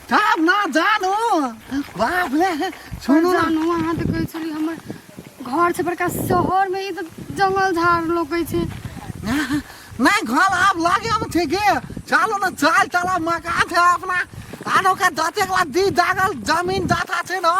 जाब ना जानो बाप रे सुनो ना जानू अहाँ तऽ कहै छली हमर घर छै बड़का शहर मे ई तऽ जंगल झाड़ लोकै छै नहीं घर आप लागे हम ठीक है चलो ना चाल चला मकान है अपना आनो का दाते के बाद दी दागल जमीन दाता छे ना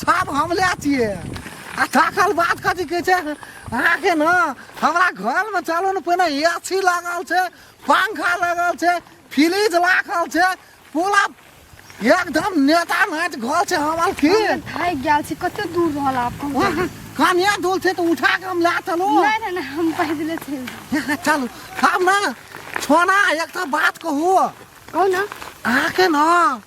सब हम ले छिए आ दाखल बात कथी कहै छै अहाँके ना हमरा घर में चलो ना पहिने एसी लागल छै पंखा लगल छै फ्रिज लागल छै पूरा एकदम नेता नाच घर छै हमर की हम थाकि गेल छी कते दूर रहल आब कहू वहाँ कनिया दूर छै तऽ उठा के हम ला चलू नहि नहि नहि हम पैदले चलि जायब। चलू हम ना छोना एकटा बात कहू कहू ने अहाँके ना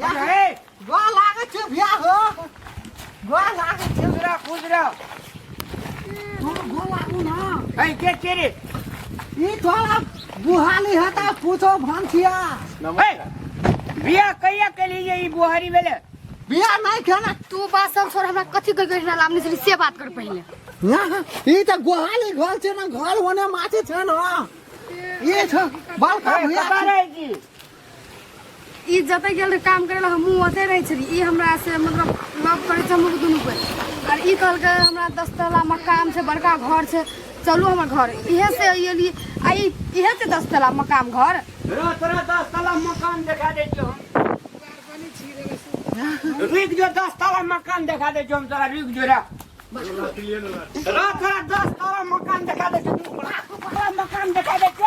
गोर लागै छै भैया हो गोर लागै छै मेरा खुश रह तू गोर लागू ना ए के के रे ई तोरा बुहाली है ता पूछो भंसिया ए बिया कहिया के लिए ई बुहारी भेले बिया नहीं खेला तू बात सब छोड़ हमरा कथी कर गइल ना लामनी से से बात कर पहिले ना ई त गोहाली घर छै ना घर होने माछे छै ना ई छ बाल का भैया कबारे जी ई जतऽ गेल रहे काम करे ला हमहूँ ओतै रहै छली ई हमरा से मतलब लव करै छै हमलोग दुनू के आर ई कहलकै हमरा दस तला मकान छै बड़का घर छै चलू हमर घर इहे से अयली आ ई इहे से दस तला मकान घर रो तोरा दस तला मकान देखा दे जो हम रुक जो दस तला मकान देखा दे जो हम तोरा रुक जो रा रो तोरा दस तला मकान देखा दे जो तू बड़ा तला मकान देखा दे जो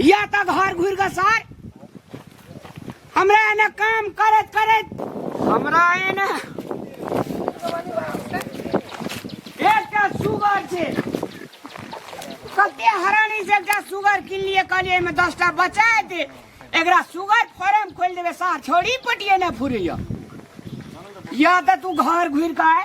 या त घर घुर के सर हमरा एने काम करत करत हमरा एने एकटा सुगर छै कते हरानी से एकटा सुगर किन लिए कहलिए एहिमे दसटा बचा दे एकरा सुगर फार्म खोलि देबै सार छोड़ी पटिए नहि फुरैया या त तू घर घुर के आय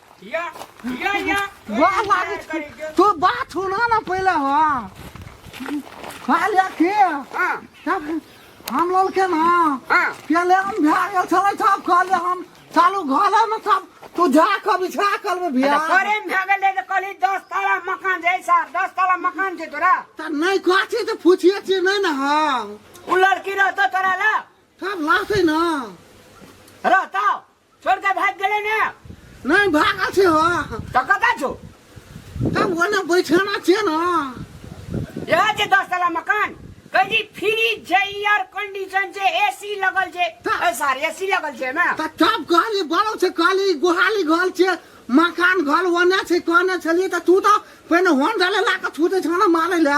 या या या वाह लागे छै। तू बात सुना ना पहले हो हाँ लेके हां तब हम लोग के ना हां पहले हम भ्या गेल छलै सब कहले हम चालू घरे में सब तू जा के बिछा कर में भ्या करे में भए गेलै तऽ कहली दस ताला मकान छै सर दस ताला मकान छै तोरा त नहीं कहछी त पूछिए छी नहीं ना हम ओ लड़की रहतौ तोरा लए सब लाते ना रहतौ छोड़ के भाग गेले ना नहीं भागा छे हो तो कता छो हम ओने बैठना छे ना यह जे दस तला मकान कह जी फ्रिज छे एयर कंडीशन छे एसी लगल छे ता- ए सार एसी लगल छे ना त तब कहली बड़ो छे कहली गुहाली घर छे मकान घर ओने छे कहने छलिए त तू तो पहले होन डाले ला के छूते छे ना मारे ला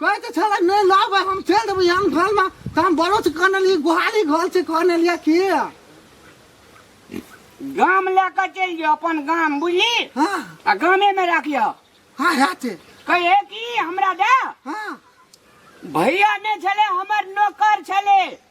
कहै तऽ छलै नहि लाबै हम चलि देबै आन घरमे तऽ हम बड़ो से कहने रहियै गुहारी घर से कहने रहियै कि गाम लए कऽ चलि जाउ अपन गाम बुझली हँ आ गामेमे राखियौ हँ हेतै कहे कि हमरा दे हँ भैया नहि छलै हमर नौकर छलै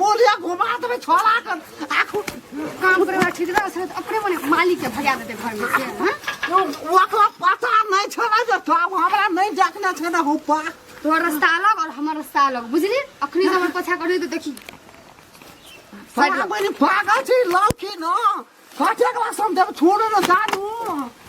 मोले घुमा देबै छोड़ा कर आखू काम करे वाला ठीक रह सर अपने मने मालिक के भगा देते घर में से हां तो ओकरा पता नहीं छोड़ा जे तो अब हमरा नहीं देखना छै ना हुपा तोर रास्ता अलग और हमर रास्ता अलग बुझली अखनी हमर पछा करी तो देखी हमरा बनी पागल छी लौकी न कटे क्लास हम देब छोड़ न जानू